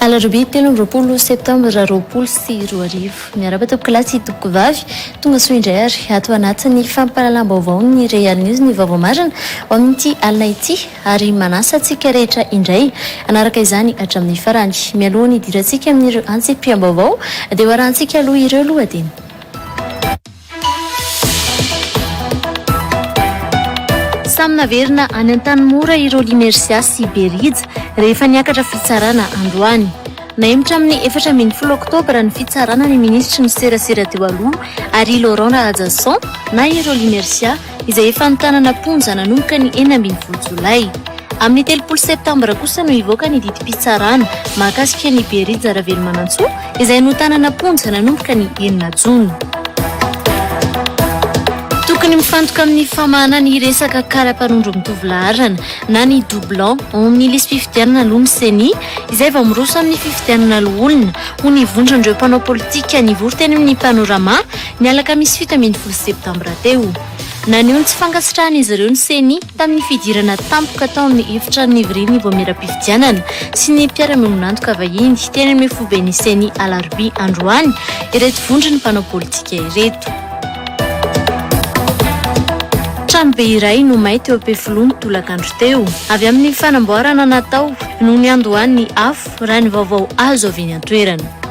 Alarobia telo amby roapolo septambra roapolo sy roa arivo. Miarahaba tompoko lahy sy tompoko vavy. Tonga soa indray ary ato anatin'ny fampahalalam-baovao ny Real News ny vaovao marina ho amin'ity alina ity. ary manasa antsika rehetra indray hanaraka izany hatramin'ny farany. Mialoha ny hidirantsika amin'ireo antsipiham-baovao dia ho arahantsika aloha ireo lohateny. Samy naverina any Antanimora i Rolly Mercia sy Be Rija rehefa niakatra fitsarana androany. Nahemotra amin'ny efatra ambin'ny folo oktobra ny fitsarana ny minisitry ny serasera teo aloha, Harry Laurent Rahajason, na i Rolly Mercia, izay efa nitanana am-ponja nanomboka ny enina ambin'ny folo jolay. Amin'ny telopolo septambra kosa no hivoaka ny didim-pitsarana mahakasika an'i Berija Ravelomanantsoa izay notanana am-ponja nanomboka ny enina jona. Tokony mifantoka amin'ny famahana ny resaka kara-panondro mitovy laharana na ny doublant ao amin'ny lisi-pifidianana aloha ny Ceni izay vao miroso amin'ny fifidianana loholona, hoy ny vondron'ireo mpanao politika nivory teny amin'ny Panorama, ny alakamisy fito ambin'ny folo septambra teo. Naneho ny tsy fankasitrahan'izy ireo ny Ceni tamin'ny fidirana tampoka tao amin'ny efitrano nivorian'ny vaomieram-pifidianana sy ny mpiara-miombon'antoka vahiny teny amin'ny foiben'ny Ceni alarobia androany ireto vondron'ny mpanao politika ireto. Tranobe iray no may teo Ampefiloha ny tolakandro teo, avy amin'ny fanamboarana natao no niandohan'ny afo, raha ny vaovao azo avy eny an-toerana.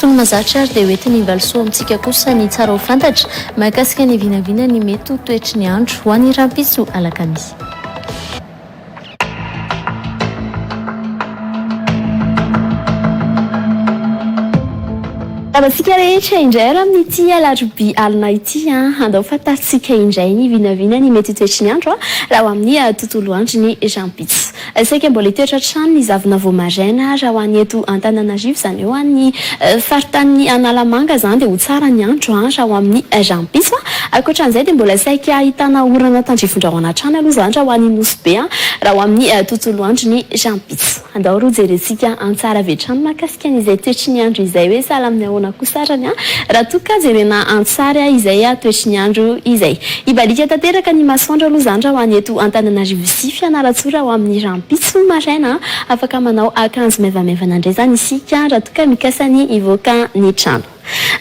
Tony mazatra ary dia hoetiny invalisoa amintsika kosa ny tsara ho fantatra mahakasika ny vinavina ny mety ho toetry ny andro ho any rampitso alakamisy. Tavantsika rehetra indray ary amin'ity alarobia alina ity an! Andao fantarintsika indray ny vinavina ny mety ho toetry ny andro raha ho amin'ny tontolo androny rahampitso. Saika mbola hitoetra hatrany ny zavona vao maraina raha ho an'ny eto Antananarivo izany eo an! Ny faritanin'i Analamanga izany dia ho tsara ny andro raha ho amin'ny rahampitso. Ankoatra an'izay dia mbola saika ahitana orana tandrifindrahona hatrany aloha izany raha ho an'i Nosy. be an! raha ho amin'ny tontolo androny rahampitso. Andao roa jerentsika an tsara avy hatrany mahakasika an izay toetry ny andro izay hoe sahala amin'ny ahoana kosa arany an! raha toa ka jerena an tsary an izay toetry ny andro izay. Hibaliaka tanteraka ny masoandro aloha izany raha ho any eto Antananarivo sy Fianarantsoa raha ho amin'ny rahampitso maraina an! afaka manao akanjo maivamaivana indray izany isika an! raha toa ka mikasa ny hivoaka ny trano.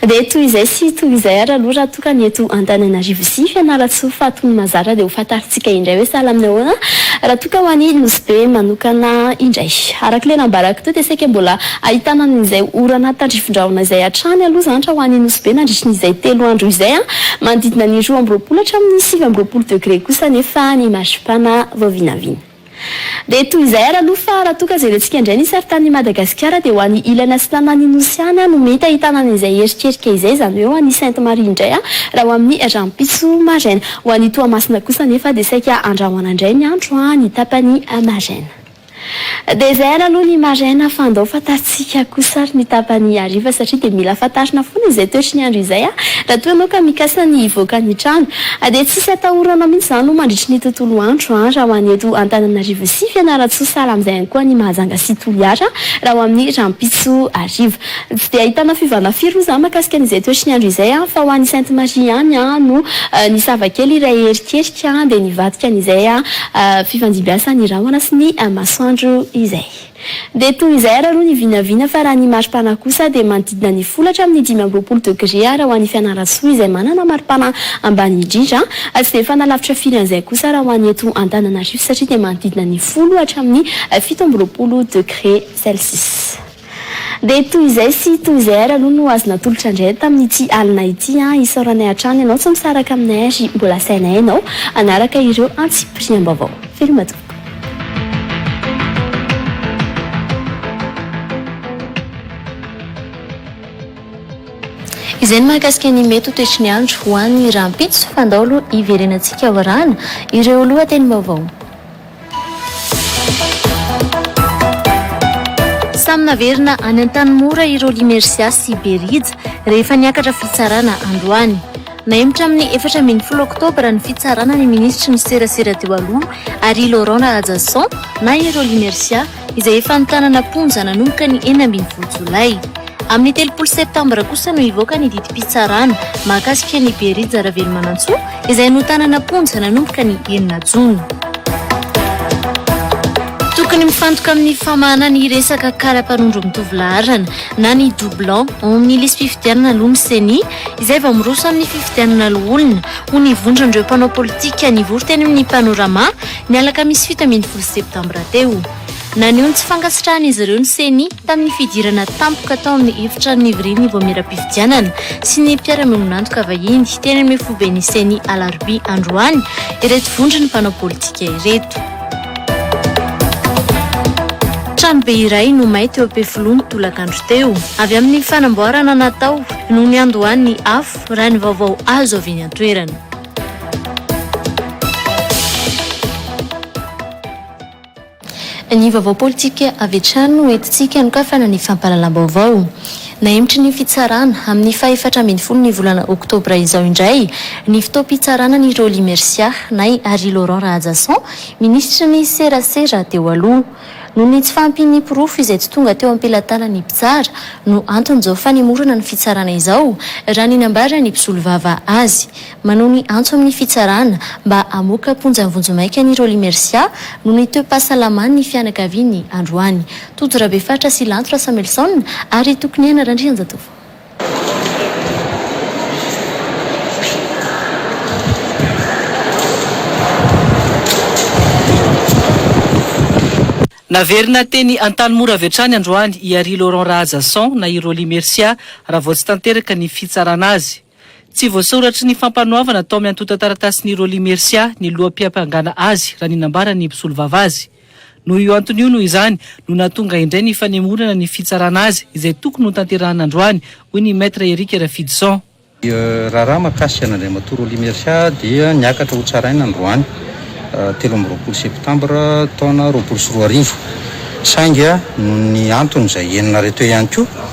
Dia toy izay sy toy izay ary aloha raha toa ka ny eto Antananarivo sy Fianarantsoa faty no mazara dia ho fantarintsika indray hoe sahala amin'ny ahoana raha toa ka ho an'i Nosy Be manokana indray. Araka ilay nambarako teo dia saika mbola ahitana an'izay orana tandrifindrahona izay hatrany aloha izany raha ho an'i Nosy Be nandritry izay telo andro izay manodidina ny roa amby roapolo hatramin'ny sivy amby roapolo degre kosa anefa ny maripana vao vinavina Dia toy izay ary aloha fa raha toa ka jerentsika indray ny saritanin'i Madagasikara dia ho an'ny ilana sy tanàn'i Nosy ihany no mety ahitana an'izay heritrerika izay, izany hoe ho an'i Sainte Marie indray raha ho amin'ny rahampitso maraina. Ho an'i Toamasina kosa anefa dia saika handrahona indray ny andro ny tapany maraina. Dia izay ary aloha ny maraina fa andao fa Tsika kosa ary ny tapany hariva satria dia mila fantarina foana izay toetry ny andro izay raha toa ianao ka mikasa ny hivoaka ny trano. Dia tsisy atahoranao mihitsy izany moa mandritry ny tontolo andro raha ho an'ny eto Antananarivo sy Fianarantsoa sahala amin'izay ihany koa any Mahajanga sy Toliara raha ho amin'ny rahampitso hariva. Tsy dia ahitana fiovana firy moa izany mahakasika an'izay toetry ny andro izay fa ho any Sainte Marie ihany no nisava kely iray erikerika dia nivadika an'izay fifandimbiasan'ny rahona sy ny masoandro izay. Dia toy izay ary aloha ny vinavina fa raha ny maripana kosa dia manodidina ny folo hatramin'ny dimy amby roapolo degre ary ho an'i Fianarantsoa izay manana maripana ambany indrindra tsy dia mifanalavitra firy an'izay kosa raha ho an'ny eto Antananarivo satria dia manodidina ny folo hatramin'ny fito amby roapolo degre celsius. Dia toy izay sy toy izay ary aloha no azo natolotra indray tamin'ity alina ity. Isaoranay hatrany ianao tsy misaraka aminay ary mbola asainay ianao hanaraka ireo antsipiriam-baovao. Veloma tompoko. Izay ny mahakasika ny mety ho toetry ny andro ho any rahampitso fa andao aloha hiverenantsika aorahana ireo lohatenim-baovao. Samy naverina any Antanimora ireo Limercia sy Berija rehefa niakatra fitsarana androany. Nahemotra amin'ny efatra ambin'ny folo oktobra ny fitsarana ny minisitry ny serasera teo aloha, Harry Laurent Rahajason, na i Rolly Mercia, izay efa nitanana am-ponja nanomboka ny enina ambin'ny folo jolay. Amin'ny telopolo septambra kosa no hivoaka ny didim-pitsarana mahakasika an'i Berija Ravelomanantsoa, izay notanana am-ponja nanomboka ny enina jona. Tokony mifantoka amin'ny famahana ny resaka kara-panondro mitovy laharana, na ny doublons, ao amin'ny lisi-pifidianana aloha ny Ceni, izay vao miroso amin'ny fifidianana loholona, hoy ny vondron'ireo mpanao politika nivory teny amin'ny Panorama, ny alakamisy fito ambin'ny folo septambra teo. Naneho ny tsy fankasitrahan'izy ireo ny Ceni, tamin'ny fidirana tampoka tao amin'ny efitra nivorian'ny vaomieram-pifidianana sy ny mpiara-miombon'antoka vahiny, teny amin'ny foiben'ny Ceni alarobia androany, ireto vondron'ny mpanao politika ireto. Tranobe iray no may teo Ampefiloha ny tolakandro teo, avy amin'ny fanamboarana natao. no niandohan'ny afo, raha ny vaovao azo avy eny an-toerana. Ny vaovao politika avy hatrany no entintsika hanokafana ny fampahalalam-baovao. Nahemitry ny fitsarana, amin'ny fahefatra ambin'ny folo ny volana oktobra izao indray, ny fotoam-pitsarana an'i Rolly Mercia, nay Harry Laurent Rahajason, minisitry ny serasera teo aloha. Noho ny tsy fahampian'ny porofo izay tsy tonga teo am-pelatanan'ny mpitsara no anton'izao fanemorana ny fitsarana izao, raha ny nambaran'ny mpisolovava azy. Manohy ny antso amin'ny fitsarana mba hamoaka am-ponja vonjimaika an'i Rolly Mercia noho ny toe-pahasalaman'ny fianakaviany androany. Tojo Rabefatra sy Lanto Rasamelison ary Tokoniaina Randrianjatovo. Naverina teny Antanimora avy hatrany androany i Ary Laurent Rahajason na i Rolly Mercia raha vao tsy tanteraka ny fitsarana azy. Tsy voasoratry ny fampanoavana tao amin'ny antontan-taratasin'i Rolly Mercia ny loha-piampangana azy raha ny nambaran'ny mpisolovava azy. Noho io antony io, noho izany, no nahatonga indray ny fanemorana ny fitsarana azy, izay tokony ho tanterahana androany, hoy ny Maître Eric Rafidison. Ny raharaha mahakasika an'Andriamatoa Rolly Mercia dia niakatra ho tsaraina androany telo amby roapolo septambra taona roapolo sy roa arivo, saingy noho ny antony izay henonareo teo ihany koa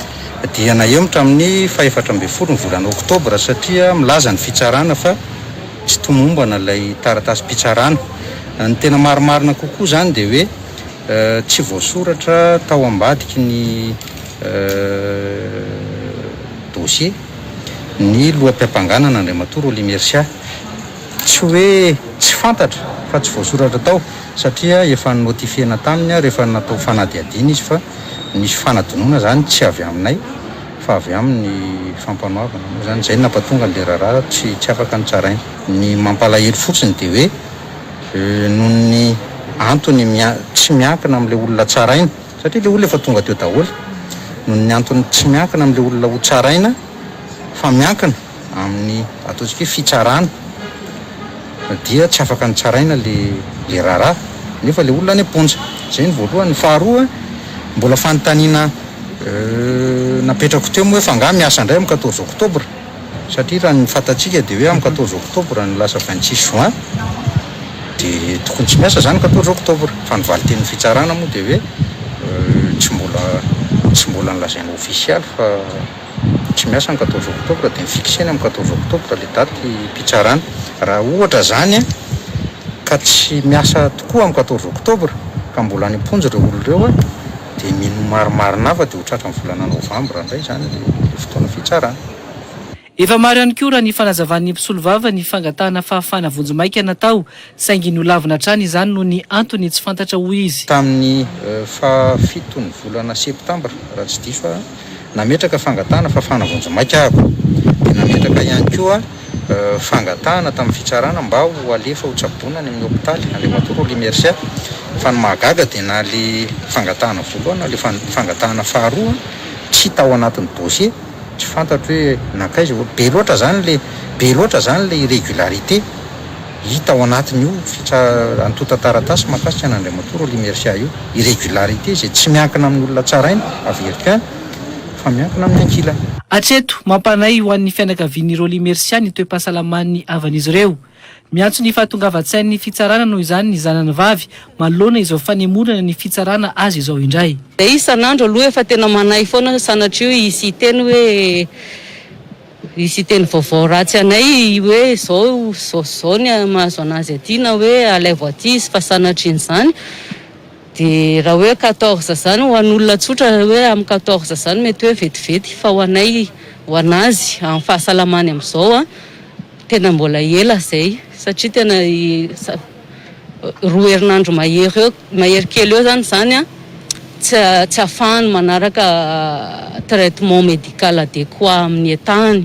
dia nahemotra amin'ny fahefatra ambin'ny folo ny volana oktobra satria milaza ny fitsarana fa. tsy tomombana ilay taratasim-pitsarana. Ny tena marimarina kokoa izany dia hoe tsy voasoratra tao ambadiky ny dosie ny loham-piampanganana Andriamatoa Rolly Mercia. Tsy hoe tsy fantatra fa tsy voasoratra tao satria efa ni-notifier-na taminy rehefa natao fanadihadiana izy fa nisy fanadinoana izany tsy avy aminay. fa avy aminy ny fampanoavana. Moa izany izay no nampatonga an'ilay raharaha tsy tsy afaka notsaraina. Ny mampalahelo fotsiny dia hoe noho ny antony mia tsy miankina amin'ilay olona tsaraina, satria ilay olona efa tonga teo daholo, noho ny antony tsy miankina amin'ilay olona hotsaraina fa miankina, amin'ny ataontsika hoe fitsarana dia tsy afaka nitsaraina le le raharaha nefa le olona any am-ponja. Zay ny voalohany. Ny faharoa, mbola fanontaniana napetrako teo moa hoe fa angaha miasa indray amin'ny quatorze octobre? Satria raha ny fantatsika dia hoe amin'ny quatorze octobre no lasa vingt six juin de tokony tsy miasa zany quatorze octobre. Fa ny valin-tenin'ny fitsarana moa dia hoe tsy mbola tsy mbola nolazaina ofisialy fa. tsy miasa ny quatorze octobre dia mi-fixer-ny amin'ny quatorze octobre ilay datim-pitsarana. Raha ohatra izany ka tsy miasa tokoa amin'ny quatorze octobre ka mbola any am-ponja ireo olona ireo dia mino marimarina hafa dia ho tratran'ny volana novambra indray izany ilay fotoana fitsarana. Efa maro ihany koa raha ny fanazavan'ny mpisolovava ny fangatahana fahafahana vonjimaika natao saingy nolavina hatrany izany noho ny antony tsy fantatra, hoy izy. Tamin'ny faha fiton'ny volana septambra, raha tsy diso aho, nametraka fangatahana fafana vonjimaika aho. Dia nametraka ihany koa fangatahana tamin'ny fitsarana mba ho alefa ho tsaboina any amin'ny hopitaly, Andriamatoa Rolly Mercia. Fa ny mahagaga dia na ilay fangatahana voalohany na ilay fangatahana faharoa tsy tao anatin'ny dossier, tsy fantatro hoe nankaiza. Be loatra izany ilay, be loatra izany ilay irregularité. Hita ao anatin'io fitra antontan-taratasy mahakasika an'Andriamatoa Rolly Mercia io, irrégularité izay tsy miankina amin'ny olona tsaraina, averika, fa miankina amin'ny ankilany. Hatreto, mampanahy ho an'ny fianakavian'i Rolly Mercia ny toe-pahasalaman'ny havan'izy ireo. Miantso ny fahatongavan-tsain'ny fitsarana noho izany ny zanany vavy manoloana izao fanemorana ny fitsarana azy izao indray. Dia isan'andro aloha efa tena manahy foana sanatria hisy hiteny hoe Hisy teny vaovao ratsy anay hoe izao izao sy izao ny mahazo an'azy aty na hoe alaivo aty izy fa sanatrian'izany dia raha hoe quatorze izany ho an'olona tsotra hoe amin'ny quatorze izany mety hoe vetivety fa ho anay ho an'azy amin'ny fahasalamany amin'izao an tena mbola ela izay satria tena roa herinandro mahery eo Mahery kely eo zany izany an, tsy tsy ahafahany manaraka traitement médical adéquat amin'ny état-ny.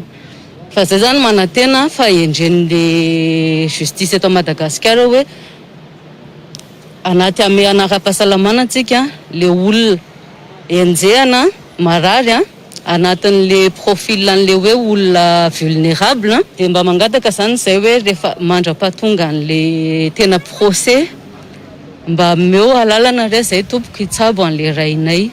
Fa izay zany manantena fa hendren'ny le justice eto Madagasikara hoe anaty hamehana ara-pahasalamana antsika le olona enjehana marary an. anatin'le profil an'le hoe olona vulnerable dia mba mangataka zany izay hoe rehefa mandrapahatonga an'le tena procès mba ameo alalana re zay tompoko hitsabo an'le rainay.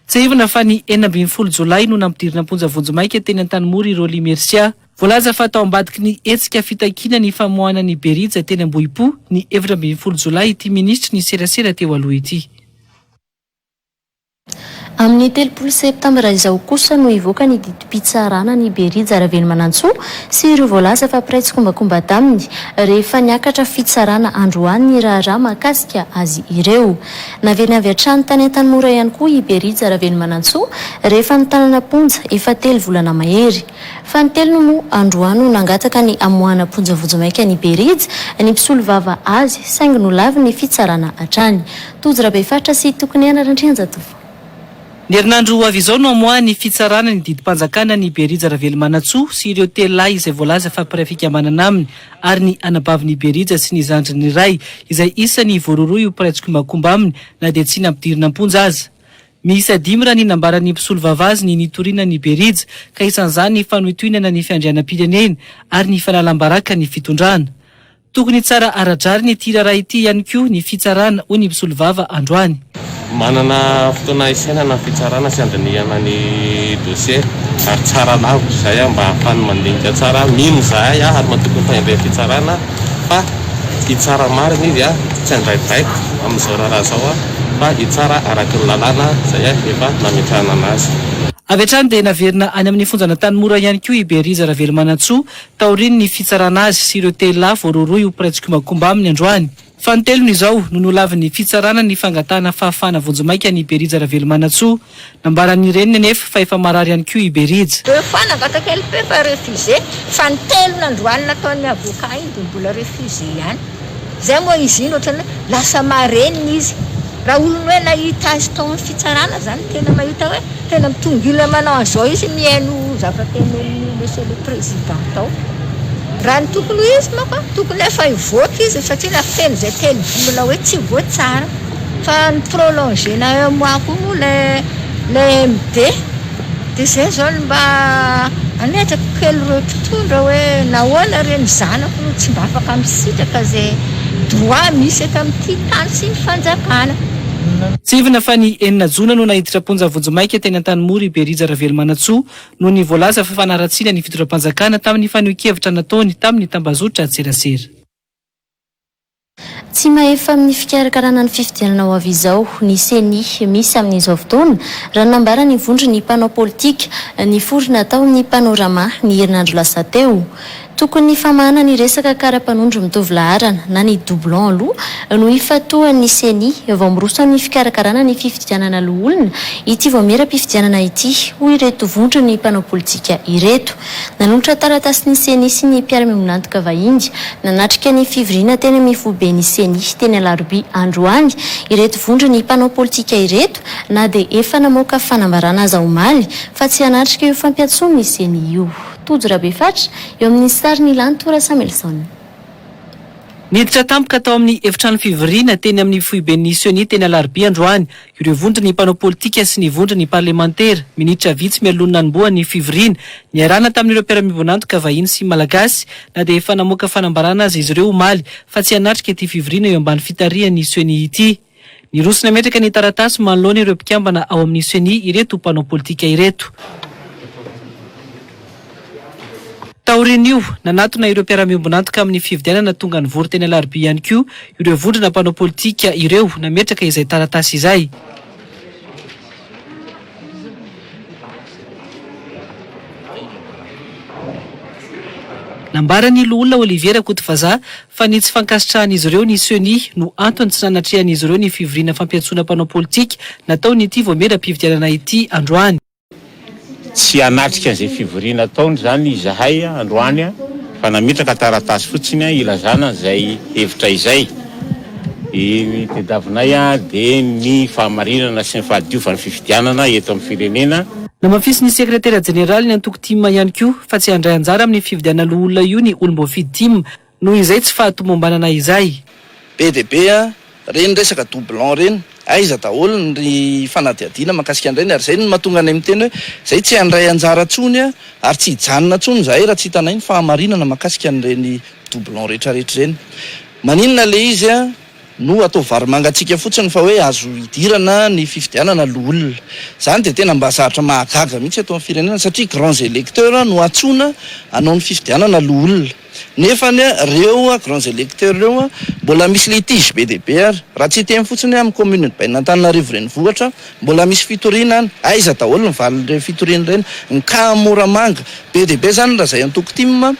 Tsiahivina fa ny enina ambin'ny folo jolay no nampidirina am-ponja vonjimaika teny Antanimora i Rolly Mercia. Voalaza fa tao ambadiky ny hetsika fitakiana ny famoahana ny Berija teny Ambohipo, ny efatra ambin'ny folo jolay ity minisitry ny serasera teo aloha ity. Amin'ny telopolo septambra izao kosa no hivoaka ny didim-pitsarana an'i Berija Ravelimanantsoa sy ireo voalaza fa mpiray tsikombakomba taminy, rehefa niakatra fitsarana androany ny raharaha mahakasika azy ireo. Naverina avy hatrany tany Antanimora ihany koa i Berija Ravelimanantsoa, rehefa nitanana am-ponja efa telo volana mahery. Fanintelony moa androany no nangataka ny hamoahana am-ponja vonjimaika an'i Berija ny mpisolovava azy, saingy nolavin' ny fitsarana hatrany. Tojo Rabefaritra sy Tokoniaina Randrianjatovo. Ny herinandro ho avy izao no hamoahan'ny fitsarana ny didim-panjakana an'i Berija Ravelomanantsoa sy ireo telo lahy izay voalaza fa mpiray fikambanana aminy ary ny anabavin'i Berija sy ny zandriny iray izay isany voarohirohy ho mpiray tsikombakomba aminy na dia tsy nampidirina am-ponja aza. Miisa dimy raha ny nambaran'ny mpisolovava azy ny nitoriana an'i Berija ka isan'izany ny fanohitohinana ny fiandrianam-pirenena ary ny fanalam-baraka ny fitondrana. Tokony tsara ara-drariny ity raharaha ity ihany koa ny fitsarana, hoy ny mpisolovava androany. Manana fotoana hisainana ny fitsarana sy handinihana ny dosie ary tsara lavitra izay aho mba hahafany mandinika tsara aho. Mino izahay aho ary matoky ny fahendren'ny fitsarana fa hitsara marina izy tsy handray baiko amin'izao raharaha izao aho fa hitsara araky ny lalàna izay efa nametrahana anazy. Avy hatrany dia naverina any amin'ny fonjan'Antanimora ihany koa i Beriza Ravelomanantsoa, taorian'ny fitsarana azy sy ireo telo lahy voarohirohy ho mpiray tsikombakomba aminy androany fanintelony izao no nolavin'ny fitsarana ny fangatahana fahafahana vonjimaika an'i Berija Ravelomanantsoa. Nambaran'ny reniny anefa fa efa marary ihany koa i Berija. Ireo fa nangataka LP fa refusé, fanintelony androany nataon'ny avocat iny dia mbola refusé ihany. Zay moa izy iny ohatrany hoe lasa marenina izy. Raha olona hoe nahita azy tao amin'ny fitsarana zany tena mahita hoe tena mitongilana manao an'izao izy mihaino zavatra tenenin'i Monsieur le Président tao. Raha ny tokony ho izy manko an, tokony efa hivoaka izy satria raha feno izay tenibolona hoe tsy voatsara. Fa ny prolonger-na un mois koa moa ilay MD. Dia izay izao no mba hametrako kely ireo mpitondra hoe nahoana re ny zanako no tsy mba afaka misitraka izay droit misy eto amin'ity tany sy ny fanjakana. Tsihivina fa ny enina jona no naiditra am-ponja vonjimaika teny Antanimora i Berija Ravelomanantsoa noho ny voalaza fa fanaratsiana ny fitondram-panjakana tamin'ny fanehoan-kevitra nataony tamin'ny tambazotran-tserasera. Tsy mahefa amin'ny fikarakarana ny fifidianana ho avy izao ny Ceni misy amin'izao fotoana, raha nambara ny vondron'ny mpanao politika niforona tao amin'ny Panorama ny herinandro lasa teo. Tokony famahana ny resaka kara-panondro mitovy laharana na ny doublons aloha no hifantohan'ny Ceni vao miroso amin'ny fikarakarana ny fifidianana loholona ity vaomieram-pifidianana ity, hoy ireto vondron'ny mpanao politika ireto. Nanolotra taratasy ny Ceni sy ny mpiara-miombon'antoka vahiny nanatrika ny fivoriana teny amin'ny foiben'ny Ceni teny Alarobia androany ireto vondron'ny mpanao politika ireto na dia efa namoaka fanambarana aza omaly fa tsy hanatrika io fampiantsoan'ny Ceni io. Tojo Rabefatra, eo amin'ny sary Ny Lanto Rasamelson. Niditra tampoka tao amin'ny efitrano fivoriana teny amin'ny foiben'ny Ceni teny Alarobia androany Ireo vondron'ny mpanao politika sy ny vondron'ny parlemantera, minitra vitsy mialohan'ny nanombohan'ny fivoriana, niarahana tamin'ireo mpiara-mivonantoka vahiny sy Malagasy, na dia efa namoaka fanambarana aza izy ireo omaly fa tsy hanatrika ity fivoriana eo ambany fitarihan'ny Ceni ity. Niroso nametraka ny taratasy manoloana ireo mpikambana ao amin'ny Ceni ireto mpanao politika ireto. Taorian'io, nanatona ireo mpiara-miombon'antoka amin'ny fifidianana tonga nivory teny Alarobia ihany koa ireo vondrona mpanao politika ireo nametraka izay taratasy izay. Nambaran'ny loholona Olivier Rakotovazaha fa ny tsy fankasitrahan'izy ireo ny Ceni no antony tsy nanatrehan'izy ireo ny fivoriana fampiantsoana mpanao politika nataon'ity vaomieram-pifidianana ity androany. Tsy hanatrika an'izay fivoriana ataony izany izahay androany fa nametraka taratasy fotsiny ilazana izay hevitra izay. Ny tadiavinay dia ny fahamarinana sy ny fahadiovan'ny fifidianana eto amin'ny firenena. Namafisin'ny sekretera jeneralin'ny antoko tim ihany koa fa tsy handray anjara amin'ny fifidianana loholona io ny olom-boafidy tim Noho izay tsy fahatomombanana izay. Be dia be a! Reny resaka doublon reny, aiza daholo ny fanadihadiana mahakasika an'ireny? Ary izay no mahatonga anay miteny hoe izay tsy handray anjara intsony ary tsy hijanona intsony izahay raha tsy hitanay ny fahamarinana mahakasika an'ireny doublon rehetrarehetra ireny. Maninona ilay izy? No atao varimangantsika fotsiny fa hoe azo idirana ny fifidianana loholona. Izany dia tena mba zavatra mahagaga mihitsy eto amin'ny firenena satria grands electeurs no antsoina hanao ny fifidianana loholona. Nefa ny ireo grands electeurs ireo mbola misy litige be dia be ary. Raha tsy hiteny fotsiny hoe amin'ny commune ny bainan'Antananarivo renivohitra mbola misy fitoriana any. Aiza daholo ny valin'ireny fitoriana ireny? Ny cas Moramanga be dia be izany raha izay antoko tim.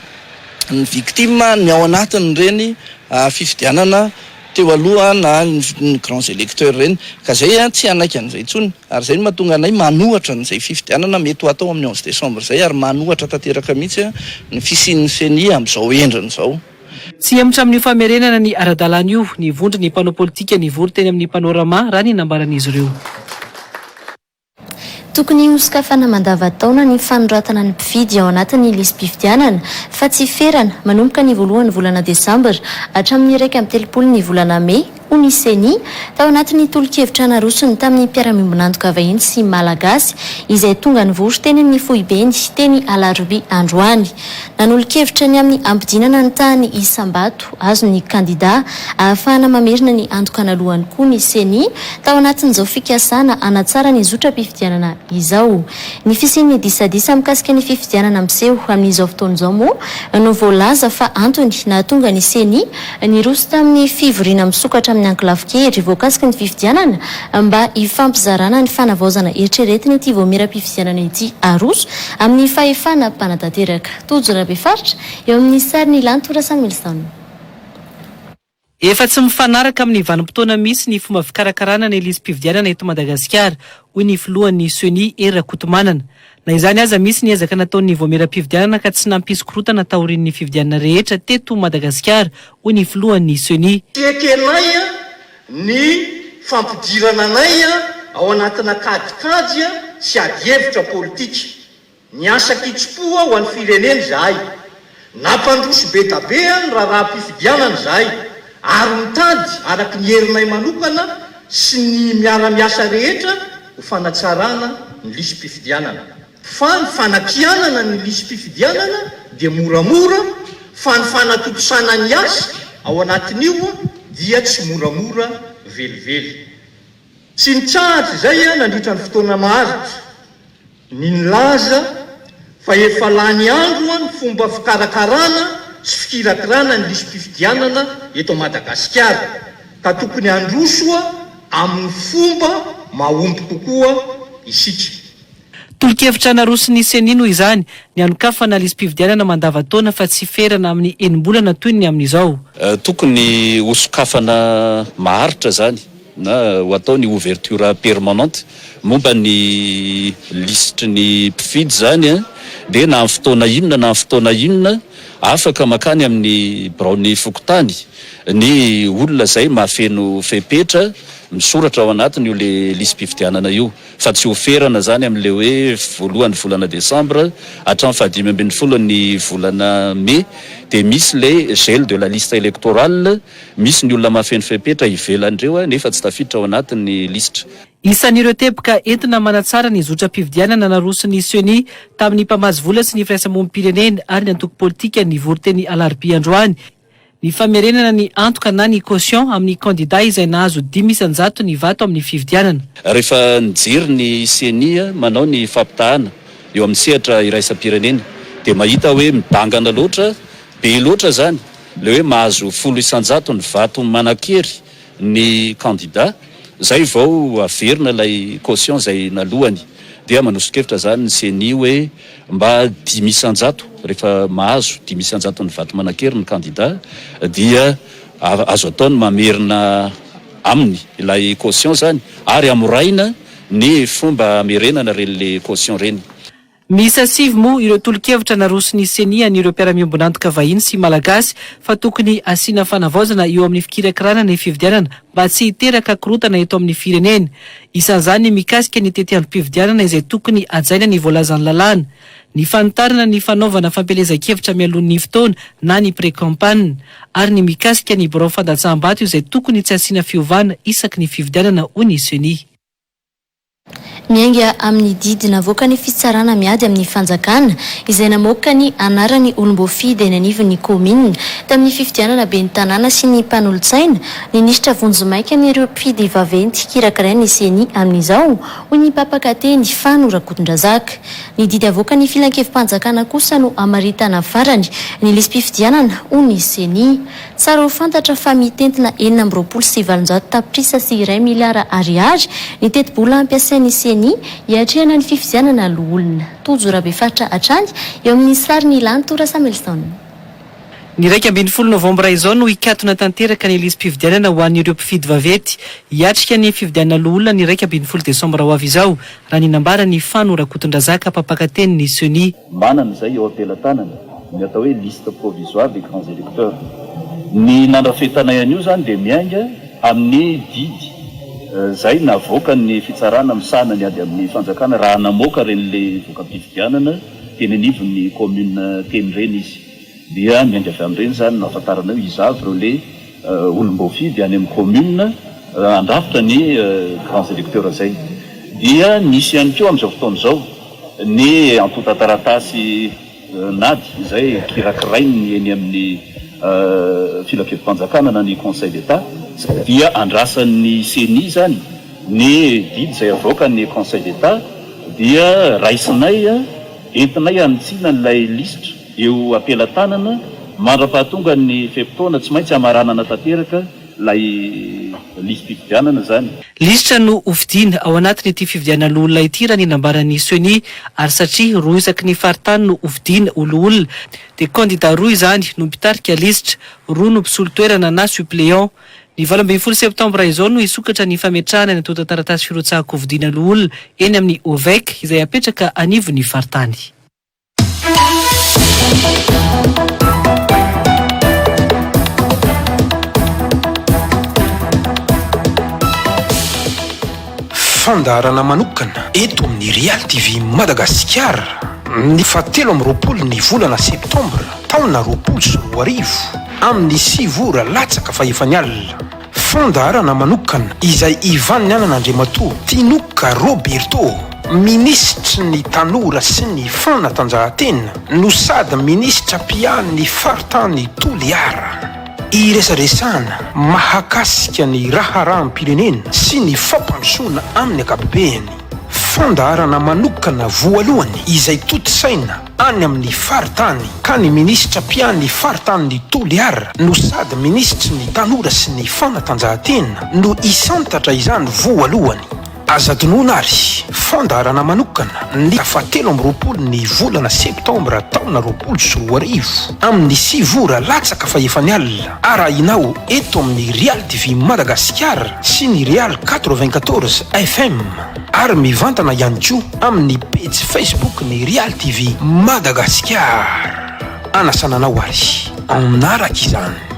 ny victime ny ao anatin'ireny fifidianana teo aloha na ny grands electeurs ireny ka izay tsy hanaiky an'izay intsony ary izay no mahatonga anay manohatra an'izay fifidianana mety ho hatao amin'ny onze décembre izay ary manohatra tanteraka mihitsy ny fisian'ny ceni amin'izao endriny izao. Tsy hemotra amin'io famerenana ny ara-dalàna io ny vondron'ny mpanao politika nivory teny amin'ny Panorama raha ny nambaran'izy ireo. Tokony hosokafana mandavan-taona ny fanoratana ny mpifidy ao anatin'ny lisi-pifidianana fa tsy ferana manomboka ny voalohan'ny volana desambra hatramin'ny iraika amby telopolo ny volana mey, hoy ny Ceni, tao anatin'ny tolo-kevitra narosony tamin'ny mpiara-miombon'antoka vahiny sy Malagasy izay tonga nivory teny amin'ny foibeny teny Alarobia androany. Nanolo-kevitra ny amin'ny hampidinana ny tahan'ny isam-bato azon'ny kandidà ahafahana mamerina ny antoka analuhany koa ny Ceni tao anatin'izao fikasana hanatsara ny zotram-pifidianana izao. Ny fisian'ny disadisa mikasika ny fifidianana miseho amin'izao fotoana izao moa no voalaza fa antony nahatonga ny Ceni Niroso tamin'ny fivoriana misokatra amin'ny ankolafy kely voakasiky ny fifidianana mba hifampizarana ny fanavaozana eritreretina ity vaomieram-pifidianana ity haroso amin'ny fahefana mpanatanteraka. Tojo Rabefaritra eo amin'ny sary Ny Lanto Rasamilison. Efa tsy mifanaraka amin'ny vanim-potoana misy ny fomba fikarakarana ny lisi-pifidianana eto Madagasikara, hoy ny filohan'ny Ceni, Hery Rakotomanana. Na izany aza, misy ny ezaka nataon'ny Vaomieram-pifidianana ka tsy nampisy korotana taorian'ny fifidianana rehetra teto Madagasikara, hoy ny filohan'ny Ceni. Ekenay ny fampidirana anay ao anatina kajikajy sy adihevitra politika. Miasa an-kitsim-po ho an'ny firenena izahay. Nampandroso be da be ny raharaham-pifidianana izahay ary mitady araka ny herinay manokana sy ny miara-miasa rehetra ho fanatsarana ny lisi-pifidianana. Fa ny fanakianana ny lisi-pifidianana dia moramora fa ny fanatontosana ny asa ao anatin'io dia tsy moramora velively. Tsy nitsahatra izay nandritra ny fotoana maharitra ny nilaza fa efa lany andro ny fomba fikarakarana sy fikirakirana ny lisi-pifidianana eto Madagasikara ka tokony handroso amin'ny fomba mahomby kokoa isika. Tolo-kevitra naroson'ny Ceni noho izany, ny hanokafana lisi-pifidianana mandava-taona fa tsy ferana amin'ny enim-bolana toy ny amin'izao. Tokony hosokafana maharitra izany na ho atao ny ouverture permanente momba ny lisitry ny mpifidy izany dia na amin'ny fotoana inona na amin'ny fotoana inona afaka mankany amin'ny biraon'ny fokontany ny olona izay mahafeno fepetra misoratra ao anatiny io lisi-pifidianana io fa tsy ho ferana izany amin'ilay hoe voalohan'ny volana desambra hatramin'ny fahadimy ambin'ny folo ny volana mey dia misy ilay gel de la liste electorale Misy ny olona mahafeno fepetra ivelan'ireo nefa tsy tafiditra ao anatin'ny lisitra. Isan'ireo teboka entina manatsara ny zotram-pifidianana naroson'ny Ceni tamin'ny mpamatsy vola sy ny firaisamonim-pirenena ary ny antoko politika nivory teny Alarobia androany ny famerenana ny antoka na ny caution amin'ny kandida izay nahazo dimy isan-jato ny vato amin'ny fifidianana. Rehefa nijery ny Ceni manao ny fampitahana eo amin'ny sehatra iraisam-pirenena dia mahita hoe midangana loatra, be loatra izany Ilay hoe mahazo folo isan-jatony vato manan-kery ny kandida izay vao averina ilay caution izay nalohany dia manoso-kevitra izany ny ceni hoe mba dimy isan-jato rehefa mahazo dimy isan-jatony vato manan-kery ny kandida dia azo atao ny mamerina aminy ilay caution izany ary amorahina ny fomba amerenana ireny le caution ireny. Miisa sivy moa ireo tolo-kevitra naroson'ny Ceni an'ireo mpiara-miombon'antoka vahiny sy Malagasy fa tokony hasiana fanavaozana eo amin'ny fikirakirana ny fifidianana mba tsy hiteraka korotana eto amin'ny firenena. Isan'izany ny mikasika ny tetiandrom-pifidianana izay tokony hajaina ny voalazan'ny lalàna, ny fanitarana ny fanaovana fampielezan-kevitra mialoha ny fotoana na ny pre-campagne ary ny mikasika ny birao fandatsaham-bato izay tokony tsy hasiana fiovana isaky ny fifidianana hoy ny Ceni. Miainga amin'ny didy navoakan'ny fitsarana miady amin'ny fanjakana, izay namoaka ny anaran'ny olom-boafidy eny anivon'ny kaominina, tamin'ny fifidianana ben'ny tanàna sy ny mpanolotsaina, ny nisitra vonjimaika an'ireo mpifidy vaventy kirakirain'ny ceni amin'izao, hoy ny mpampaka teny, Fano Rakotondrazaka. Ny didy avoakan'ny filankevi-panjakana kosa no hamaritana farany ny lisi-pifidianana, hoy ny ceni. Tsara ho fantatra fa mitentina enina amby roapolo sy valonjato tapitrisa sy iray miliara ariary ny tetibola hampiasain'ny Ceni hiatrehana ny fifidianana loholona. Tojo Rabefaritra hatrany eo amin'ny sarin'i Lanto Rasamelson. Ny iraika ambin'ny folo novambra izao no hikatona tanteraka ny lisi-pifidianana ho an'ireo mpifidy vaventy hiatrika ny fifidianana loholona ny iraika ambin'ny folo desambra ho avy izao raha ny nambaran'i Fano Rakotondrazaka, mpampakatenin'ny Ceni. Manana izay eo am-pelatanany ny atao hoe Liste provisoire des grands électeurs. Ny nandrafetanay an'io izany dia miainga amin'ny didy izay navoakan'ny fitsarana misahana ny ady amin'ny fanjakana raha namoaka ireny voka-pifidianana teny anivon'ny kaominina teny ireny izy. Dia miainga avy amin'ireny izany no hahafantarana hoe iza avy ireo le olom-boafidy any amin'ny commune handrafitra ny grands électeurs izay. Dia misy ihany koa amin'izao fotoana izao ny antontan-taratasy nad izay kirakirain'ny eny amin'ny filankevim-panjakana na ny conseil d'Etat. Dia andrasan'ny ceni izany ny didy izay avoakan'ny conseil d'Etat dia raisinay entinay hanitsiana ilay lisitra. Eo am-pelatanana, mandra-pahatongan' ny fe-potoana, tsy maintsy hamaranana tanteraka ilay lisi-pifidianana izany. Lisitra no hofidiana ao anatin' ity fifidianana loholona ity raha ny nambaran' i Ceni, ary satria roa isaky ny faritany no hofidiana ho loholona, dia kandidà roa izany no mpitarika lisitra, roa no mpisolo toerana na suppléant. Ny valo ambin'ny folo septambra izao no hisokatra ny fametrahana ny antontan-taratasy firotsahan-kofidiana loholona eny amin' ny Ovec izay hapetraka anivon' ny faritany. Fandaharana manokana eto amin'ny Real TV Madagasikara ny fahatelo amby roapolo ny volana septambra taona roapolo sy roa arivo amin'ny sivy ora latsaka fahefany alina. Fandaharana manokana izay ivan'ny anan' Andriamatoa Tinoka Roberto, Minisitry ny Tanora sy ny Fanatanjahantena no sady Minisitra mpiahan'ny faritany Toliara. Iresaresahana mahakasika ny raharaham-pirenena sy ny fampandrosoana amin'ny ankapobeny. Fandaharana manokana voalohany izay tontosaina any amin'ny faritany ka ny minisitra mpiany faritanin'i Toliara no sady minisitry ny tanora sy ny fanatanjahantena no hisantatra izany voalohany. Aza adinoina ary fandaharana manokana ny fahatelo amby roapolo ny volana septambra taona roapolo sy roa arivo amin'ny sivy ora latsaka fahefany alina arahinao eto amin'ny Real TV Madagasikara sy ny Real quatre-vingt-quatorze FM. Ary mivantana ihany koa amin'ny pejy Facebook ny Real TV Madagasikara. Anasana anao ary hanaraka izany.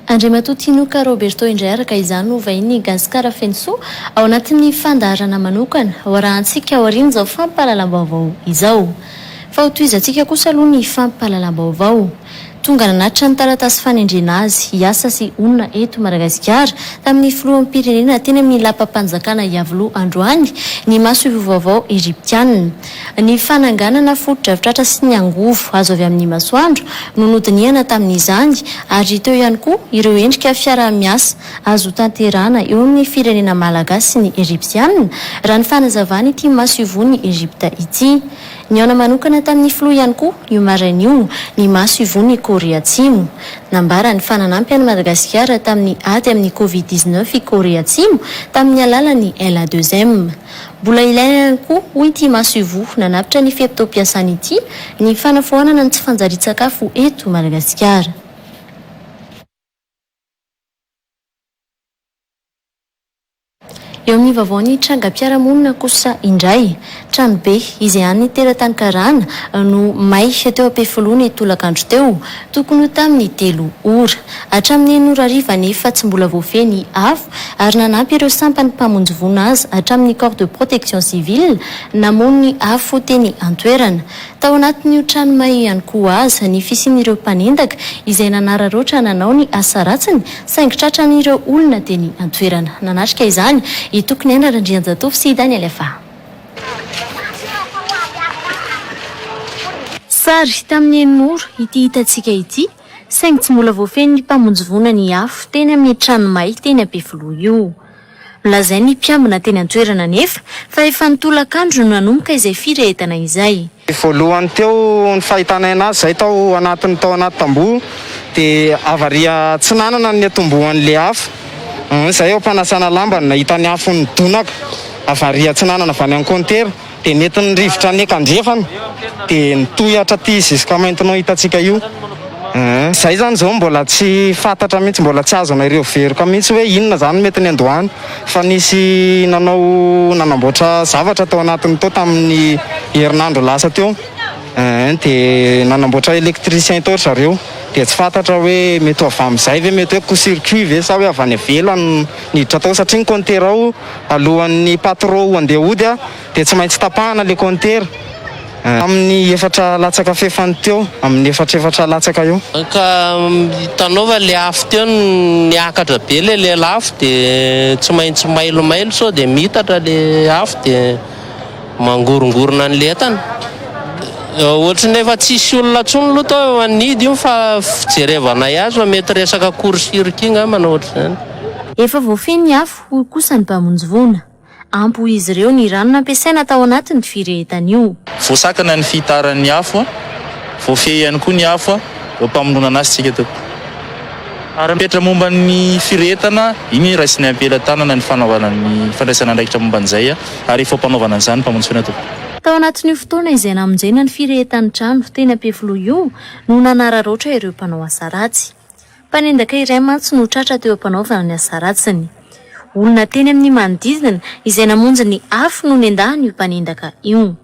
Andriamatoa Tinoka Roberto indray araka izany no vahinin'ny Gasikara feno soa ao anatin'ny fandaharana manokana ho arahantsika aorian'izao fampahalalam-baovao izao. Fa ho tohizantsika kosa aloha ny fampahalalam-baovao tonga nanatitra ny taratasy fanendrena azy hiasa sy honina eto Madagasikara tamin'ny Filoham-pirenena teny amin'ny Lapam-panjakana Iavoloha androany ny masoivoho vaovao Egyptiana Ny fananganana fotodrafitr'Atra sy ny angovo azo avy amin'ny masoandro no nodinihana tamin'izany ary teo ihany koa ireo endrika fiaraha-miasa azo tanterahana eo amin'ny firenena malagasy sy ny Ejipsianina, raha ny fanazavan'ity masoivohon'i Ejipta ity. Nihaona manokana tamin'ny filoha ihany koa io maraina io ny masoivohon'i Korea Atsimo. Nambarany fa nanampy an'i Madagasikara tamin'ny ady amin'ny Covid dix-neuf i Korea Atsimo tamin'ny alalan'ny LA-deux-M. Mbola ilaina ihany koa, hoy ity masoivoho nanavotra ny fe-potoam-piasany ity, ny fanafoanana ny tsy fanjarian-tsakafo eto Madagasikara. Eo amin'ny vaovao ny trangam-piarahamonina kosa indray. Tranobe izay an'ny teratany karana no may teo Ampefiloha ny tolakandro teo. Tokony ho tamin'ny telo ora. Hatramin'ny enina ora hariva anefa tsy mbola voafehy ny afo ary nanampy ireo sampan'ny mpamonjy voina azy hatramin'ny Corps de Protection Civile namono ny afo teny an-toerana. Tao anatin'io trano may io ihany koa aza ny fisian'ireo mpanendaka izay nanararaotra nanao ny asa ratsiny saingy tratran'ireo olona teny an-toerana nanatrika izany i Tokoniaina Randrianjatovo sy i Daniel Fa. Sary tamin'ny eny Moro ity hitantsika ity saingy tsy mbola voafehin'ny mpamonjy voina ny afo teny amin'ny trano may teny Ampefiloha io. Nolazain'ny mpiambina teny an-toerana anefa fa efa nitolakandro no nanomboka izay firehetana izay. Ny voalohany teo ny fahitanay anazy izay tao anatiny tao anaty tamboho dia havaria tsy nanana ny niatombohany le afo izay eo ampanasana lamba no nahita ny afo nidonaka havaria tsy nanana avy any amin'ny kaontera dia nety ny rivotra ny ekandrefana dia nitohy hatraty jusqu'à maintenant hitantsika io izay izany izao mbola tsy fantatra mihintsy mbola tsy azonay reo veroka mihintsy hoe inona izany mety niandohany fa nisy nanao nanamboatra zavatra tao anatiny tao tamin'ny herinandro lasa teo eh, dia nanamboatra électricien tao ry zareo dia tsy fantatra hoe mety ho avy amin'izay ve mety hoe co-circuit ve sa hoe avy any ivelany niditra tao satria ny compteur ao alohan'ny patro ho andeha hody ah, dia tsy maintsy tapahana ilay kaontera tamin'ny efatra latsaka fefany teo amin'ny efatrefatra latsaka eo. Ka hitanao fa ilay afo teo niakatra be ilay lelafo dia tsy maintsy mailomailo sao dia miitatra ilay afo dia mangorongorona an'ilay entana. Ohatry ny efa tsisy olona intsony aloha tao eo anidy io fa fijerevanay azy fa mety resaka court circuit ngambana ohatr'izany. Efa voafehy ny afo, hoy kosa ny mpamonjy voina. Ampy ho izy ireo ny rano nampiasaina tao anatin'ny firehetana io. Voasakana ny fihitaran'ny afo, voafehy ihany koa ny afo eo am-pamoronana azy isika teto. Ary mipetra momba ny firehetana, iny ny raisinay am-pelatanana ny fanaovana ny fandraisana andraikitra momba an'izay ary efa am-panaovana an'izany ny famontsoana teto. Tao anatin'io fotoana izay namonjena ny firehetan-trano teny Ampefiloha io no nanararaotra ireo mpanao asa ratsy. Mpanendaka iray mantsy no tratra teo am-panaovana ny asa ratsiny. Olona teny amin'ny manodidina izay namonjy ny afo no nendahan'io mpanendaka io.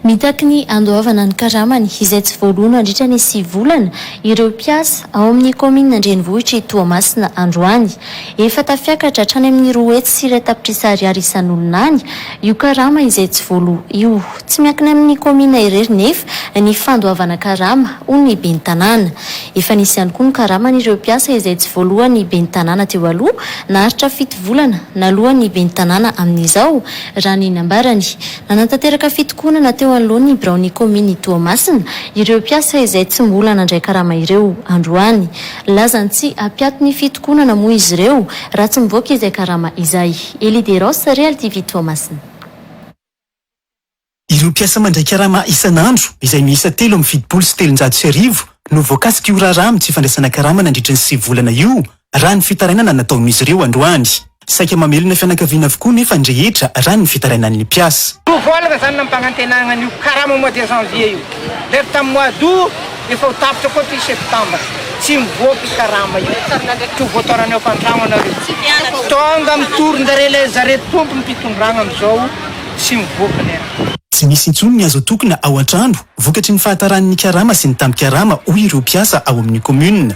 Mitaky ny handoavana ny karamany izay tsy voaloa nandritra ny sivy volana ireo mpiasa ao amin'ny kaominina an-drenivohitr'i Toamasina androany. Efa tafiakatra hatrany amin'ny roa hetsy sy iray tapitrisa ariary isan'olona any io karama izay tsy voaloa io. Tsy miankina amin'ny kaominina irery nefa ny fandoavana karama, hoy ny ben'ny tanàna. Efa nisy ihany koa ny karaman'ireo mpiasa izay tsy voaloan'ny ben'ny tanàna teo aloha, naharitra fito volana naloan'ny ben'ny tanàna amin'izao, raha ny nambarany. Nanatanteraka fitokonana teo anoloan'ny biraon'ny kaomin'i Toamasina ireo mpiasa izay tsy mbola nandray karama ireo androany. Lazan'ny tsy hampiato ny fitokonana moa izy ireo raha tsy mivoaka izay karama izay. Elie Deros, Real TV Toamasina. Ireo mpiasa mandray karama isan'andro izay miisa telo amby fitopolo sy telonjato sy arivo no voakasik'io raharaha amin'ny tsy fandraisana karama nandritry ny sivy volana io raha ny fitarainana nataon'izy ireo androany. Saika mamelona fianakaviana avokoa nefa ny rehetra raha ny fitarainan'ny mpiasa. Ho voalana izany nampanantenana an'io karama mois de janvier io. Rehefa tamin'ny mois d'aout efa ho tapitra koa ity septambra. Tsy mivoaka io karama io. Tsy ho voataona ny ao an-trano ianareo. Tonga mitoron-dare ilay zareo tompom-pitondrana amin'izao tsy mivoaka ilay raha. Tsy misy intsony ny azo atokona ao an-trano vokatry ny fahataran'ny karama sy ny tambin-karama hoy ireo mpiasa ao amin'ny commune.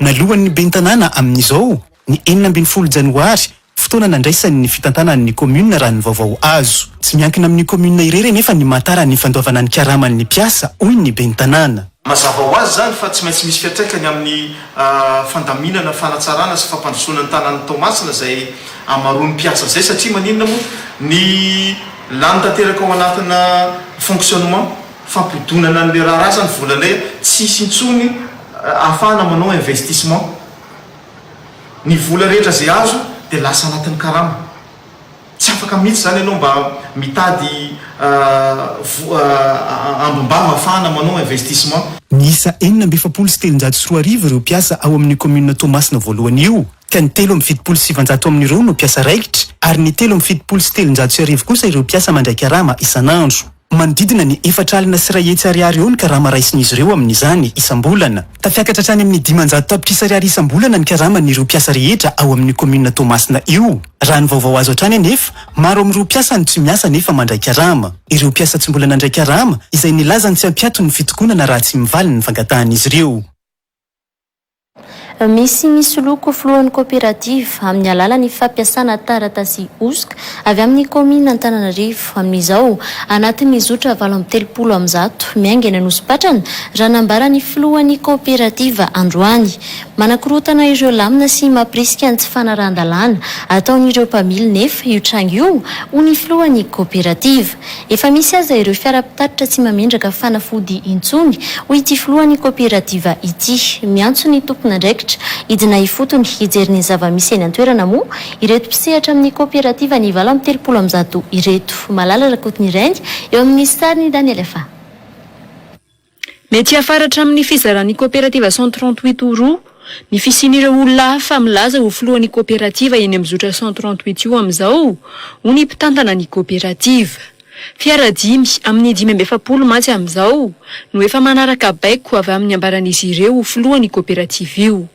Nalohan' ny Ben'ny Tanàna amin' izao ny enina ambin'ny folo Janoary, fotoana nandraisany ny fitantanany ny kaominina raha ny vaovao azo. Tsy miankina amin' ny kaominina irery anefa ny mahatara ny fandoavana ny karaman' ny mpiasa, hoy ny Ben'ny Tanàna. Mazava ho azy izany fa tsy maintsy misy fiantraikany amin' ny fandaminana, fanatsarana sy fampandrosoana ny tanàn' i Toamasina izay hamaroan' ny mpiasa izay satria maninona moa ny lany tanteraka ao anatina fonctionnement. fampodonana anle raharaha sa ny vola le tsisy intsony ahafahana manao investissement ny vola rehetra ze azo de lasa anatiny karama tsy afaka mitsy zany enao mba mitady ambim-bava ahafahana manao investissement. Niisa enina amby efapolo sy telonjato sy roa arivo ireo mpiasa ao amin'ny kaominina Toamasina voalohany io, ka ny telo amby fitopolo sy sivanjato amin'ireo no mpiasa raikitra, ary ny telo amby fitopolo sy telonjato sy arivo kosa ireo mpiasa mandray karama isan'andro. Manodidina ny efatra alina sy iray hetsy ariary eo ny karama raisin'izy ireo amin'izany isam-bolana. Tafiakatra hatrany amin'ny dimanjato tapitrisa ariary isam-bolana ny karaman'ireo mpiasa rehetra ao amin'io kaominina Toamasina io. Raha ny vaovao azo hatrany anefa, maro amin'ireo mpiasa no tsy miasa nefa mandray karama. Ireo mpiasa tsy mbola nandray karama, izay nilazany tsy hampiato ny fitokonana raha tsy mivaly ny fangatahan'izy ireo. Misy misoloky ho filohan'ny kaoperativa amin'ny alalan'ny fampiasana taratasy hosoka avy amin'ny kaominina Antananarivo amin'izao anatin'ny zotra valo amby telopolo amin'ny zato miainga eny Anosipatrana, raha nambara ny filohan'ny kaoperativa androany. Manakorontana ireo lamina sy mampirisika ny tsy fanarahan-dalàna ataon'ireo mpamily nefa io tranga io, hoy ny filohan'ny kaoperativa. Efa misy aza ireo fiara mpitatitra tsy mamindraka fanafody intsony, hoy ity filohan'ny kaoperativa ity. Miantso ny tompon'andraikitra hidina ifotony hijery ny zava-misy eny an-toerana moa ireto mpisehatra amin'ny kaoperativa ny valo amby telopolo amby zato ireto. Malala Rakotonireny, eo amin'ny sarin'i Daniel Fa. Mety hiafara hatramin'ny fizaran'ny Coopérative cent trente huit ho roa ny fisian'ireo olona hafa milaza ho filohan'ny Coopérative eny amin'ny zotra cent trente huit io amin'izao, hoy ny mpitantana ny Coopérative. Fiara dimy amin'ny dimy amby efapolo mantsy amin'izao no efa manaraka baiko avy amin'ny ambaran'izy ireo ho filohan'io Coopérative io.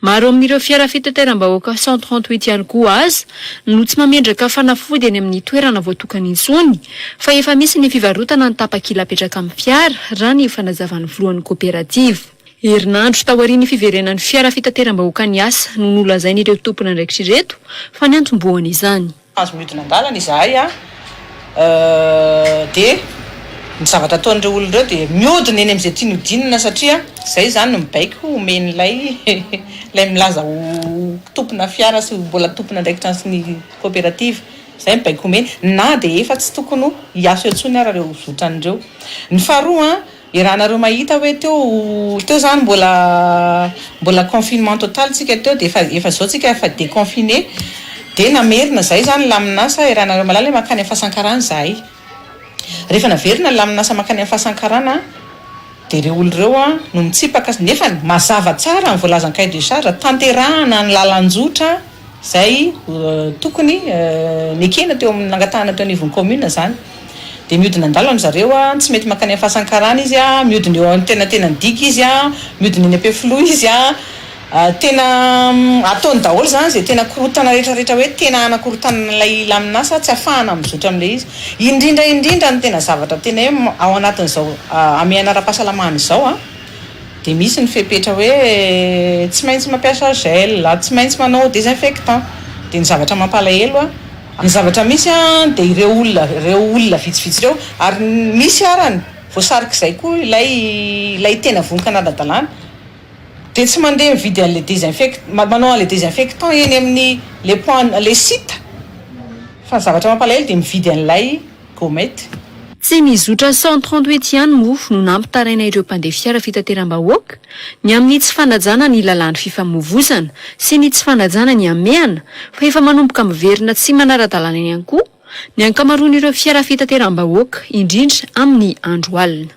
Maro amin'ireo fiara fitateram-bahoaka cent trente huit ihany koa aza no tsy mamendraka fanafody eny amin'ny toerana voatokany intsony fa efa misy ny fivarotana ny tapakila apetraka amin'ny fiara, raha ny fanazavan'ny filohan'ny koperativa. Herinandro taorian'ny fiverenan'ny fiara fitateram-bahoaka niasa no nolazain'ireo tompon'andraikitra ireto fa ny antombohan'izany. Azo miodina an-dalana izahay a! dia ny zavatra ataon'ireo olona ireo dia miodina eny amin'izay tiany hodinina satria izay izany no mibaiko homen'ilay ilay milaza ho tompona fiara sy ho mbola tompon'andraikitra sy ny koperativa izay mibaiko homeny na dia efa tsy tokony hiasa eo intsony ary ireo zotran'ireo. Ny faharoa an! Iarahanareo mahita hoe teo teo zany mbola mbola confinement total tsika teo de efa efa zao tsika efa deconfiner de namerina zay zany lamin'asa iarahanareo mahalala hoe mankany amin'ny fasankarana zahay rehefa naverina ny lamin'asa mankany amin'ny fasankarana de ireo olo ireo a no mitsipaka nefany mazava tsara ny voalazan'ny cahier de charge tanterahana ny lalan-jotra Izay tokony nekena teo amin'ny nangatahana teo anivon'ny kaominina izany. Dia mihodina an-dalana ry zareo, tsy mety mankany amin'ny fasan-karana izy, mihodina eo antenantenan'ny digue izy, mihodina eny Ampefiloha izy. Tena ataony daholo izany izay tena korontana rehetra rehetra hoe tena hanakorontana an'ilay lamin'asa, tsy hahafahana mizotra amin'ilay izy. Indrindra indrindra ny tena zavatra tena hoe ao anatin'izao hamehana ara-pahasalamana izao. Dia misy ny fepetra hoe tsy maintsy mampiasa gel, tsy maintsy manao désinfectant. Dia ny zavatra mampalahelo an! Ny zavatra misy an dia ireo olona, ireo olona vitsivitsy ireo, ary misy arany voasarik'izay koa ilay, ilay tena vonon kanadadalana, dia tsy mandeha mividy an'ilay désinfect, manao an'ilay désinfectant eny amin'ny les points, les sites, fa ny zavatra mampalahelo dia mividy an'ilay. Gomety. Tsy ny zotra cent trente huit ihany moa no nampitaraina ireo mpandeha fiara fitateram-bahoaka ny amin'ny tsy fanajana ny lalàn'ny fifamoivozana sy ny tsy fanajana ny hamehana fa efa manomboka miverina tsy manara-dalàna ihany koa ny ankamaroan'ireo fiara fitateram-bahoaka indrindra amin'ny andro alina.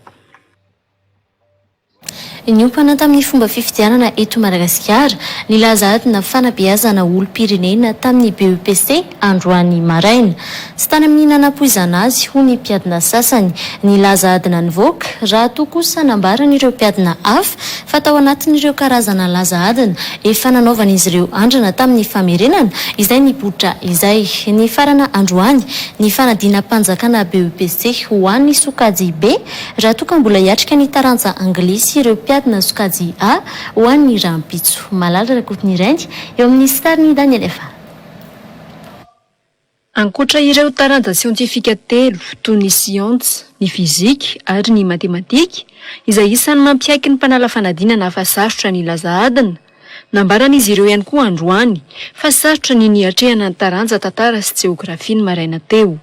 Niompana tamin'ny fomba fifidianana eto Madagasikara, nilaza adina fanabeazana olom-pirenena tamin'ny BEPC androany maraina. Tsy tany amin'ny nanapoizana azy, hoy ny mpiadina sasany, nilaza adina nivoaka, raha toa kosa nambaran'ireo mpiadina hafa fa tao anatin'ireo karazana laza adina efa nanaovan'izy ireo andrana tamin'ny famerenana izay nipoitra izay. Nifarana androany ny fanadinam-panjakana BEPC ho an'ny sokajy B, raha toa ka mbola hiatrika ny taranja anglisy ireo mpiadina sokajy A ho an'ny rahampitso. Malala Rakotonireny, eo amin'ny sarin'i Daniel Efa. Ankoatra ireo taranja siantifika telo, toy ny siansa, ny fizika ary ny matematika, izay isan'ny mampiaiky ny mpanala fanadinana fa sarotra ny hilaza adina, nambaran'izy ireo ihany koa androany fa sarotra ny niatrehana ny taranja tantara sy jeografia ny maraina teo.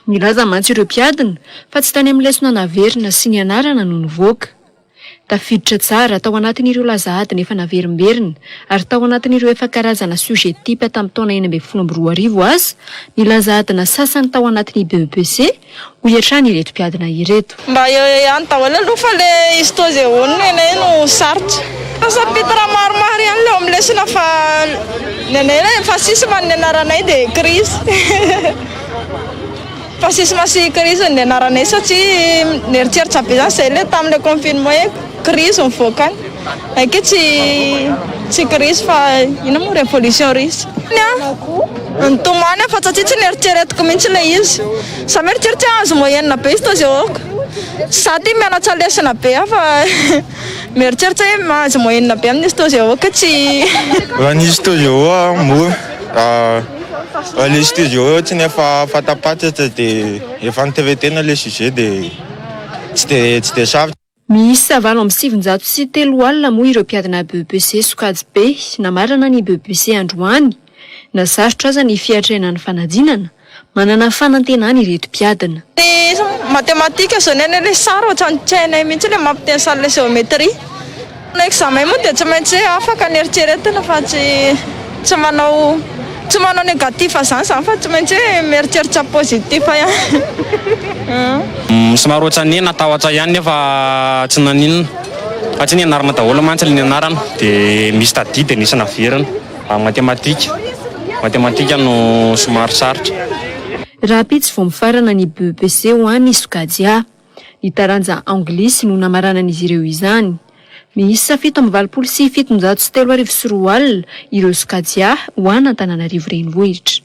Nilaza mantsy ireo mpiadina fa tsy tany amin'ny lesona naverina sy nianarana no nivoaka. Tafiditra tsara tao anatin'ireo laza adina efa naverimberina ary tao anatin'ireo efa karazana sujet type tamin'ny taona enina ambin'ny folo amby roa arivo aza ny laza adina sasany tao anatin'ny BEPC, hoy hatrany ireto mpiadina ireto. Mba eo eo ihany daholo aloha fa le histoz eo eo ny anay no sarotra. Misafidy raha maromaro ihany le eo amin'ny lesona fa ny anay ilay emphasisme ny anaranay dia Chris emphasisme sy Chris ny anaranay satria nieritreritra be zany zay le tamin'ilay confinement. Krizy mivoaka any. Ekeo tsy tsy krizy fa inona moa revolution russe. Ny nitomany aho fa tsy tsy neritreretiko mihitsy ilay izy. Za mieritreritra hoe âge moyenne be izy tao Zehoka. Za ity mianatra lesona be aho fa mieritreritra hoe âge moyenne be amin'izy tao Zehoka hoe tsy. Raha ny izy tao Zehoka moa raha ilay izy tao Zehoka ohatry ny efa fanta-patratra dia efa noterenteina ilay sujet dia tsy dia tsy dia sarotra. Miisa valo amby sivinjato sy telo alina moa ireo mpiadina BEPC sokajy be namarana ny BEPC androany. Na sarotra aza ny fiatrehana ny fanadinana, manana fanantenana ireto mpiadina. Ny matematika zao ny anay le sary ohatran'ny tsy hainay mihitsy le mampiteny sary le géométrie. Manao examen moa dia tsy maintsy hoe afaka ny eritreretina fa tsy tsy manao tsy manao negatif zany zany fa tsy maintsy hoe mieritreritra positif ihany. Somary ohatran'ny hoe natahotra ihany nefa tsy naninona fa tsy nianarana daholo mantsy ilay nianarana dia misy tadidy dia nisy naverina ary matematika matematika no somary sarotra. Rahampitso vao mifarana ny BEPC ho an ny sokajy A. Ny taranja anglisy no namaranan'izy ireo izany. Miisa fito amby valopolo sy fitonjato sy telo arivo sy roa alina ireo sokajy-A ho an'Antananarivo Renivohitra.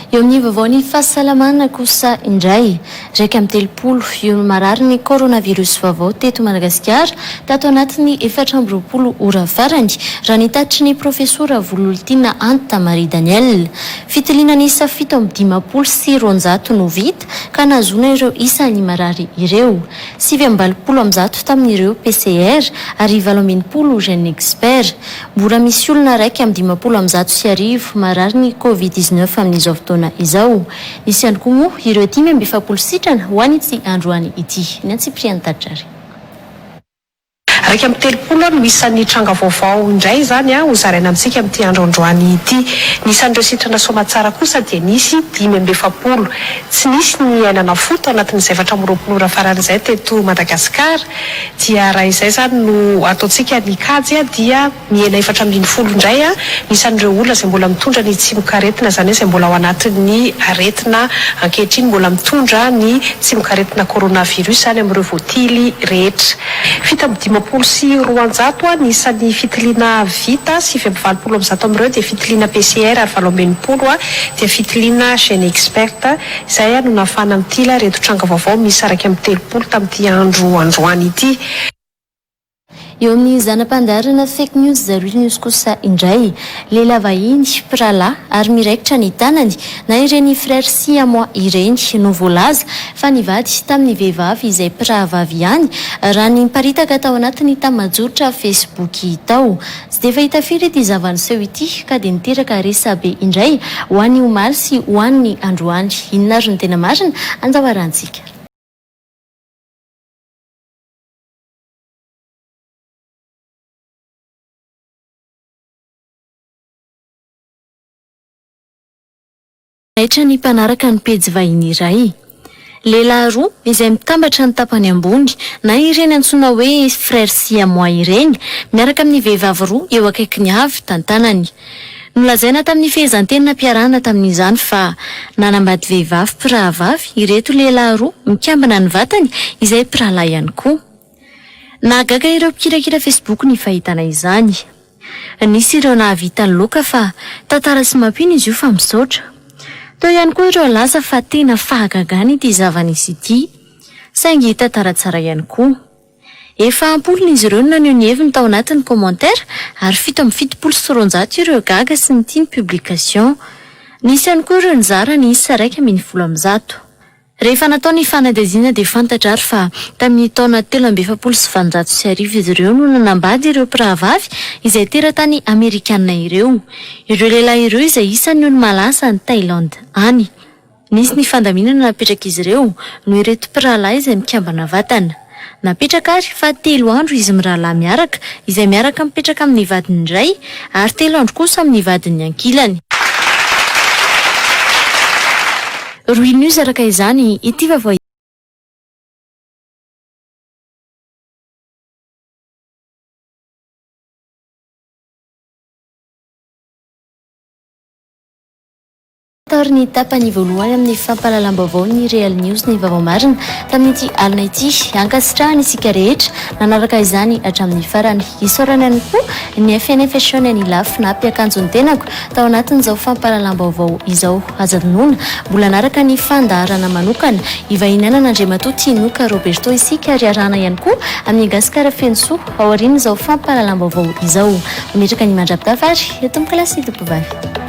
Eo amin'ny vaovaon'ny fahasalamana kosa indray, iraika amby telopolo io ny mararin'ny coronavirus vaovao teto Madagasikara tato anatin'ny efatra amby roapolo ora farany, raha ny tatitry ny profesora Vololtiana Anta Marie Danielle. Fitiliana niisa fito amby dimampolo sy roanjato no vita ka nahazoana ireo isa ny marary ireo. Sivy amby valopolo amin'ny zato tamin'ireo PCR ary valo amby enimpolo GeneXpert. Mbola misy olona iraika amby dimampolo amin'ny zato sy arivo marary ny Covid dix-neuf amin'izao fotoana izao. Nisy ihany koa moa ireo dimy amby efapolo sitrana ho an'ity androany ity. Ny antsipiriany tatra ary. Iraika amby telopolo no isan'ny tranga vaovao indray izany ho zaraina amintsika amin'ity andro androany ity. Ny isan'ireo sitrana soamatsara kosa dia nisy dimy amby efapolo. Tsy nisy ny aina nafoy tao anatin'izay efatra amby roapolo ora farany izay teto Madagasikara. Dia raha izay izany no ataontsika ny kajy dia. Mihena efatra ambin'ny folo indray ny isan'ireo olona izay mbola mitondra ny tsimokaretina, izany hoe izay mbola ao anatin'ny aretina ankehitriny mbola mitondra ny tsimokaretina coronavirus, izany amin'ireo voatily rehetra. Fito amby dimampolo sy roanjato ny isan'ny fitiliana vita, sivy amby valopolo amin'ny zato amin'ireo dia fitiliana PCR ary valo amby enimpolo dia fitiliana GeneXpert, izay no nahafahana mitily ireto tranga vaovao miisa iraika amby telopolo tamin'ity andro androany ity. Eo amin'ny zana-pandaharana Fake News The Real News kosa indray, lehilahy vahiny, mpirahalahy ary miraikitra ny tanany, na ireny Frères Siamois ireny no voalaza fa nivady tamin'ny vehivavy izay mpirahavavy ihany, raha ny niparitaka tao anatin'ny tamajoritra Facebook tao. Tsy dia fahita firy ity zava-niseho ity ka dia niteraka resabe indray ho an'ny omaly sy ho an'ny androany. Inona ary no tena marina? Andao harahantsika. Naitra ny mpanaraka ny pejy vahiny iray. Lehilahy roa izay mitambatra ny tapany ambony, na ireny antsoina hoe frères siamois ireny, miaraka amin'ny vehivavy roa eo akaikiny avy tantanany. Nolazaina tamin'ny fehezanteny nampiarahana tamin'izany fa nanambady vehivavy mpirahavavy ireto lehilahy roa mikambana ny vatany izay mpirahalahy ihany koa. Nahagaga ireo mpikirakira Facebook ny fahitana izany. Nisy ireo nahavita loka fa tantara sy mampino izy io fa misaotra. Teo ihany koa ireo nilaza fa tena fahagagana ity zava-nisy ity. Saingy tantara tsara ihany koa. Efa am-polony izy ireo no naneho ny heviny tao anatin'ny commentaire ary fito amby fitopolo sy roanjato ireo gaga sy nitia ny publication. Nisy ihany koa ireo nizara ny isa iraika ambin'ny folo amby zato. Rehefa natao ny fanadihadiana dia fantatra ary fa tamin'ny taona telo amby efapolo sy valonjato sy arivo izy ireo no nanambady ireo mpirahavavy izay teratany Amerikana ireo. Ireo lehilahy ireo izay isan'ny olo-malaza any Thaïlande any. Nisy ny fandaminana napetrak'izy ireo noho ireto mpirahalahy izay mikambana vatana. Napetraka àry fa telo andro izy mirahalahy miaraka, izay miaraka mipetraka amin'ny vadiny iray, ary telo andro kosa amin'ny vadiny ankilany. Rohy News Araka izany, ity vaovao ity. Tary ny tapany voalohany amin'ny fampahalalam-baovaon'ny Real News ny Vaovao Marina tamin'ity alina ity. Ankasitrahana isika rehetra nanaraka izany hatramin'ny farany. Isaorana ihany koa ny FNA Fashion an'i Lafy nampi akanjo ny tenako tao anatin'izao fampahalalam-baovao izao. Aza adinoina, mbola hanaraka ny fandaharana manokana ivahinianan' Andriamatoa Tinoka Roberto isika ary arahana ihany koa amin'ny Gasikara feno soa aorian'izao fampahalalam-baovao izao. Mametraka ny mandra-pitafa ary eto amin'ny kilasy tovovavy.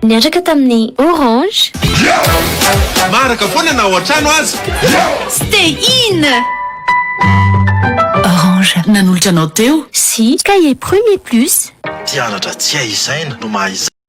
Niantraka tamin'ny Orange. Maraka foana na ao an-trano aza. Stay in! Orange. Nanolotra anao teo. Sy Cahier Premier Plus. Mpianatra tsy hay isaina no maha izay.